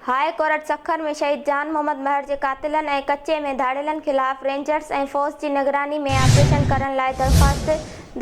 High court Sukkur ۾ شهيد جان محمد مهر جي قاتلن ۽ ڪچي ۾ ڌاڙيلن خلاف رينجرز ۽ فوج جي نگراني ۾ آپريشن ڪرڻ لاء درخواست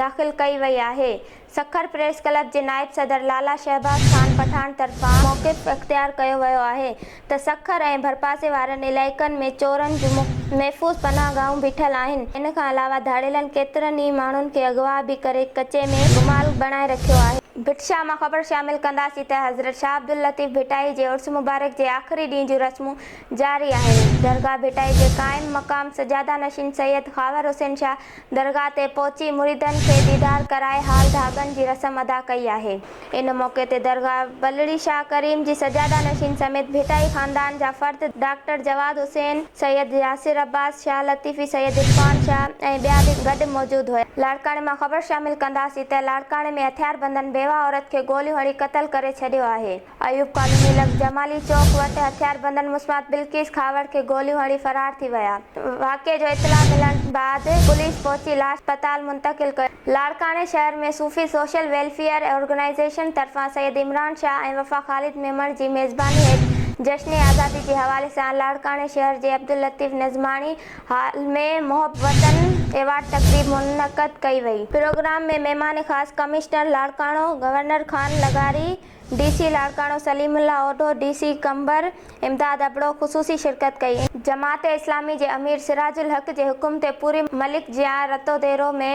داخل ڪئي وئي آهي. سکر پريس ڪلب جي نائب صدر لالا شهباز خان پٺاڻ طرفان موقف اختيار ڪيو ويو آهي. ته سکر ۽ ڀرپاسي وارن علائقن ۾ چورن جون محفوظ پناهه گاهون به ٺھيل آهن، ان کان علاوه ڌاڙيلن ڪيترن ئي ماڻهن کي اغوا به ڪري ڪچي ۾ گمال بڻائي رکيو آهي. ڀٽ شاهه مان خبر شامل ڪنداسين ته حضرت شاهه عبداللطيف ڀٽائي جي عرس مبارڪ جي آخري ڏينهن جون رسمون جاري آهن، درگاهه ڀٽائي جي قائم مقام سجاده نشين سيد خاور حسين شاهه درگاهه تي پهچي مريدن کي ديدار ڪرائي هال ڌاڳن جي رسم ادا ڪئي آهي. ان موقعي تي درگاهه بلڙي شاهه ڪريم جي سجاده نشين سميت ڀٽائي خاندان جا فرد ڊاڪٽر جواد حسين، سيد ياسر عباس، شاهه لطيفي، سيد عرفان شاهه ۽ ٻيا به گڏ موجود هيا. لاڙڪاڻي مان خبر شامل ڪنداسين ته لاڙڪاڻي ۾ هٿياربندن بيواهه عورت کي گوليون هڻي قتل ڪري ڇڏيو آهي. ايوب ڪالوني لڳ جمالي چوڪ وٽ هٿياربندن مسمات بلقيس کهاوڙ کي گوليون هڻي فرار ٿي ويا، واقعي جو اطلاع ملڻ بعد پوليس پهچي لاش اسپتال منتقل ڪيو، لاڙڪاڻي شهر ۾ صوفي سوشل ويلفيئر آرگنائيزيشن طرفان سيد عمران شاهه ۽ وفا خالد ميمڻ جي ميزباني هيٺ جشن آزادي جي حوالي سان لاڙڪاڻي شهر جي عبداللطيف نظماڻي هال ۾ محب وطن ايوارڊ تقريب منعقد ڪئي وئي، پروگرام ۾ مهمان خاص ڪمشنر لاڙڪاڻو گورنر خان لغاري، DC Larkana Saleem Ullah Odho, DC Qambar Imdad Abro خصوصي شرڪت ڪئي. جماعت اسلامي جي امير سراج الحق جي حڪم تي پوري ملڪ جيان رتوديرو ۾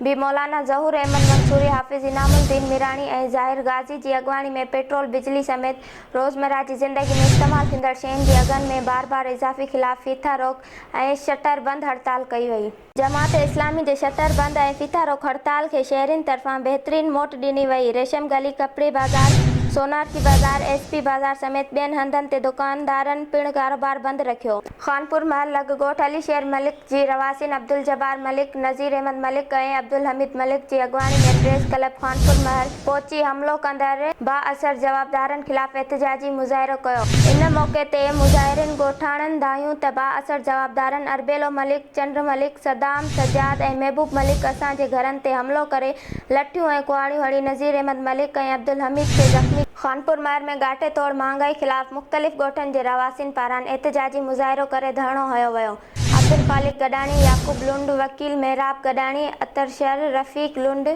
به مولانا ظهور احمد منصوري، حافظ انعام الدين ميراڻي ۽ ظاهر غازي جي اڳواڻي ۾ پيٽرول، بجلي سميت روزمره جي زندگي ۾ استعمال ٿيندڙ شين جي اگهن ۾ بار بار اضافي خلاف ڦيٿا روڪ ۽ شٽر بند هڙتال ڪئي وئي. جماعت اسلامي جي شٽر بند ۽ ڦيٿا روڪ هڙتال کي شهرين طرفان بهترين موٽ ڏني وئي، ريشم گلي، ڪپڙي بازار، سونارچي بازار، ايس پي بازار سميت ٻين هنڌن تي دڪاندارن پڻ ڪاروبار بند رکيو. خانپور محل لڳ ڳوٺ علي شير ملڪ جي رهواسين عبدالجبار ملڪ، نذير احمد ملڪ ۽ عبدالحميد ملڪ جي اڳواڻي ۾ پريس ڪلب خانپور محل پهچي حملو ڪندڙ بااثر جوابدارن خلاف احتجاجي مظاهرو ڪيو. ان موقعي تي مظاهرين ڳوٺاڻن ڌايون ته بااثر جوابدارن اربيلو ملڪ، چنڊ ملڪ، صدام، سجاد ۽ محبوب ملڪ اسان جي گهرن تي حملو ڪري لٺيون ۽ ڪهاڙيون هڻي نذير احمد ملڪ ۽ عبدالحميد کي زخمي ڪيو. خانپور مهر ۾ ڳاٽي توڙ مهانگائي خلاف مختلف ڳوٺن جي رهواسين پاران احتجاجي مظاهرو ڪري ڌرڻو هنيو ويو. عبدالخالق گڏاڻي، يعقوب لنڊ، وڪيل محراب گڏاڻي، عطر شر، رفيق لنڊ،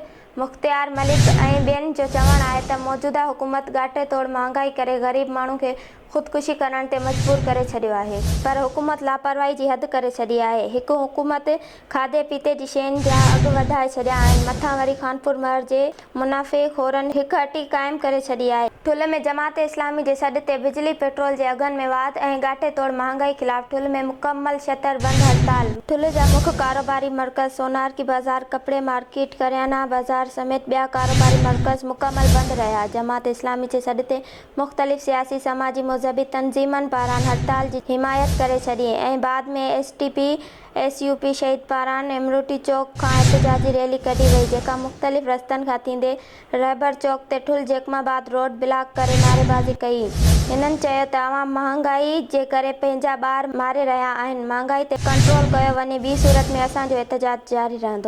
مختيار ملڪ ۽ ٻين جو چوڻ آهي ته موجوده حڪومت ڳاٽي توڙ مهانگائي ڪري غريب ماڻهو کي خودڪشي ڪرڻ تي مجبور ڪري ڇڏيو آهي پر حڪومت لاپرواهي جي حد ڪري ڇڏي آهي هڪ حڪومت کاڌي پيتي جي شين جا اگهه وڌائي ڇڏيا آهن مٿان وري خانپور مهر جي منافعي خورن هڪ هٽي قائم ڪري ڇڏي آهي. ٺل ۾ جماعت اسلامي جي سڏ تي بجلي پيٽرول جي اگهن ۾ واڌ ۽ ڳاٽي توڙ مهانگائي خلاف ٺل ۾ مڪمل شٽر بند هڙتال. ٺل جا مک ڪاروباري مرڪز سونارڪي بازار، ڪپڙي مارڪيٽ، ڪريانه بازار سميت ٻيا ڪاروباري مرڪز مڪمل بند رهيا جماعت اسلامي جي سڏ تي مختلف سياسي، سماجي، مذهبي تنظيمن پاران هڙتال جي حمايت ڪري ڇڏي ۽ بعد ۾ STP, SUP شهيد پاران امروٽي چوڪ کان احتجاجي ريلي ڪڍي وئي جيڪا مختلف رستن کان ٿيندي رهبر چوڪ تي Thul Jacobabad road block ڪري نعريبازي ڪئي. هنن چيو ته عوام مهانگائي جي ڪري پنهنجا ٻار ماري رهيا آهن، مهانگائي تي ڪنٽرول ڪيو وڃي ٻي صورت ۾ اسان جو احتجاج جاري رهندو.